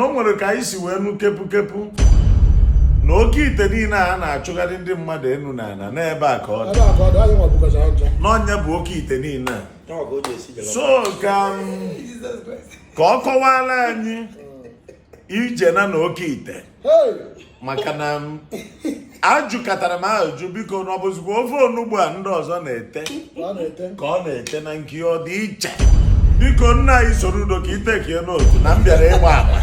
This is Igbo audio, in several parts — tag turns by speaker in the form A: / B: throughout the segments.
A: na o nwere ka anyị si wee nụ kepukepu na oke ite niile a na-achụgharị ndị mmadụ enu na ana n'ebe a ka ọ dị na onye bụ oke ite niile so ka ka ọ kọwara anyị ije ya na oke ite maka na ajụkatara m ajụjụ biko na ọ bụzikwa ofe onugbu a ndị ọzọ na-ete ka ọ na-ete na nke ya ọ dị iche biko nna anyị Soludo ka ị take note na m bịara ịgba ama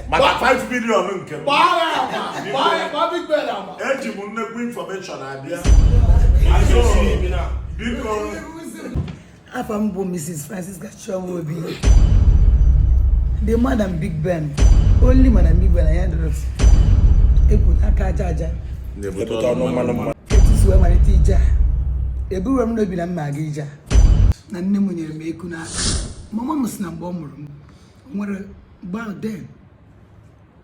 A: maka 5 million nke m Gbaa ya ama. Gbaa ya gbaa Big Ben ama. eji m nnekwu infọmeshọn abịa Anyị so ibi na. biko
B: afa m bụ Mrs. Francisca Chioma Obi the madam Big Ben only madam Big Ben anya dọrọ ekwu aka aja aja na-ebute ọnụ mmanụ mmanụ etu si wee malite ije a eburo m n'obi na m ma-aga ije a na nne m nyere m eku n'aka mama m sị na mgbe ọ mụrụ m nwere back then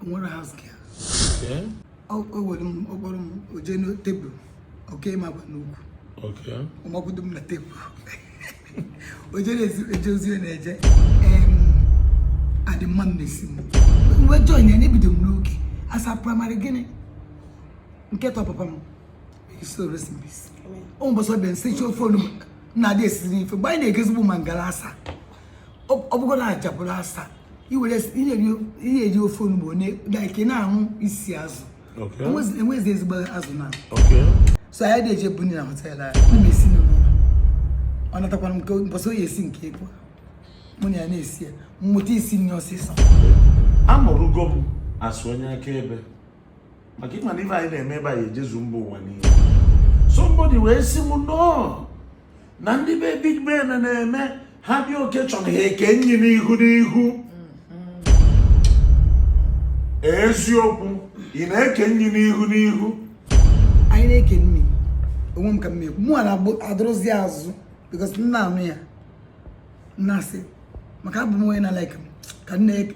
B: nwere house girl o were m ọ kpọrọ m o je na tebụl o kee m akwa n'ukwu ọ makwudo m na tebụl o je na-eje ozi ọ na-eje adị mma m na-esi m wee join ya na ebido m n'oge asa praịmarị gịnị nke ịtọ papa m soul rest in peace o nwe mbọsị ọ bịa nsechi ofe onugbu na-adị esiri ife mgbe anyị na-ego ezigbo mangala asa ọ bụgo na ajabụrụ asa iwere ihe eji ofe onugbu like na-aṅụ isi azụ enwezi ezigbo azụ now so anyị dị eje buni na họtel anyị m na-esi n'ụlọ ọ natakwana m nke mbọsị ọ ya-esi nke ekwe mụ na ya na-esi ya m mụta isi nni ọsịsọ amarugo
A: m asụ onye akaebe maka ịma na ife anyị na-eme ebe anyị ejezu mba ụwa niile somebody wee sị m no na ndị be Big Ben na-eme ha bịa occasion ha eke nni n'ihu n'ihu eziokwu ị na-eke nni n'ihu n'ihu
B: anyị na-eke nni onwe m ka m ekwu mụwa na-adọrọzi azụ because m na-anụ ya m na-asị maka abụ m onye na like m ka m na-eke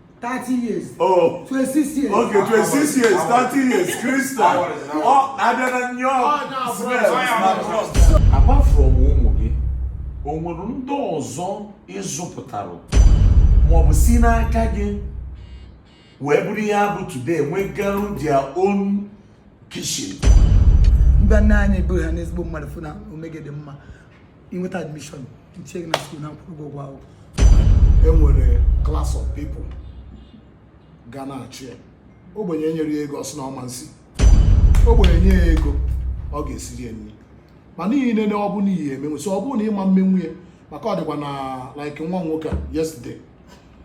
B: thirty years. oh twenty six years. okay twenty six
A: years thirty years christian ọ adịla nye ọ smell na trust. apart from ụmụ gị o nwere ndị ọzọ ị zụpụtara maọbụ si n'aka gị wee bụrụ ihe ha bụ today nwegarụ their own kitchen.
B: mgbe nna anyị bụ ha n'ezigbo mmadụ fụ na omume gị dị mma i nweta admishọn m tinye gị na skuul na-akwụrụ gị ụgwọ akwụkwọ e nwere
C: klas of people ga na-achị ya ogbenye e nyere ya ego ọ sị na ọ ma nsi ogbenye nye ya ego ọ ga-esiri ya nri ma n'ihi nene ọ bụ n'ihi emenwu so ọ bụrụ na ị ma emenwu ya maka ọ dịkwa na like nwa nwoke a yesterday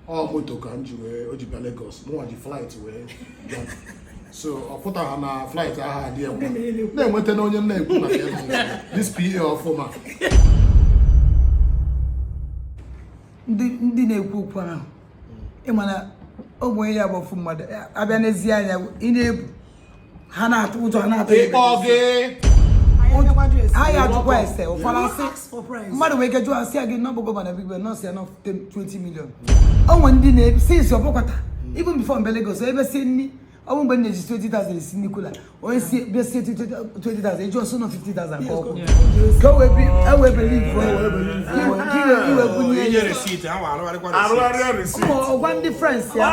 C: ọ moto ka m ji wee o ji bịa Lagos mụnwa ji flight wee bịa so ọ pụtara na flight ahụ adị enwe na-enweta na onye m na-ekwu na this PA ọfụma
B: ndị na-ekwu okwu ahụ ị ma na ọ bụ onye ya bụ ofu mmadụ abịa n'ezi anya ị na-ebu ha na-atụ ụjọ ha na-atụ ịkpọ gị anyị ajụkwa ese ụfọdụ asị mmadụ nwere ike jụọ asị ya gị nọ bụ gọvanọ bigbe nọọsụ ya nọ 20 million o nwere ndị na-esi isi ọbụkwata ibu before m bịa Lagos ebe si nri ọ bụ mgbe m na-eji 20,000 esi nri cooler onye si bịa si 20,000 eji ọ sị na ọ 50,000 ka ọ kwụ ka o wee ewee believe iwe bunye ya ọ gwa ndị friends ya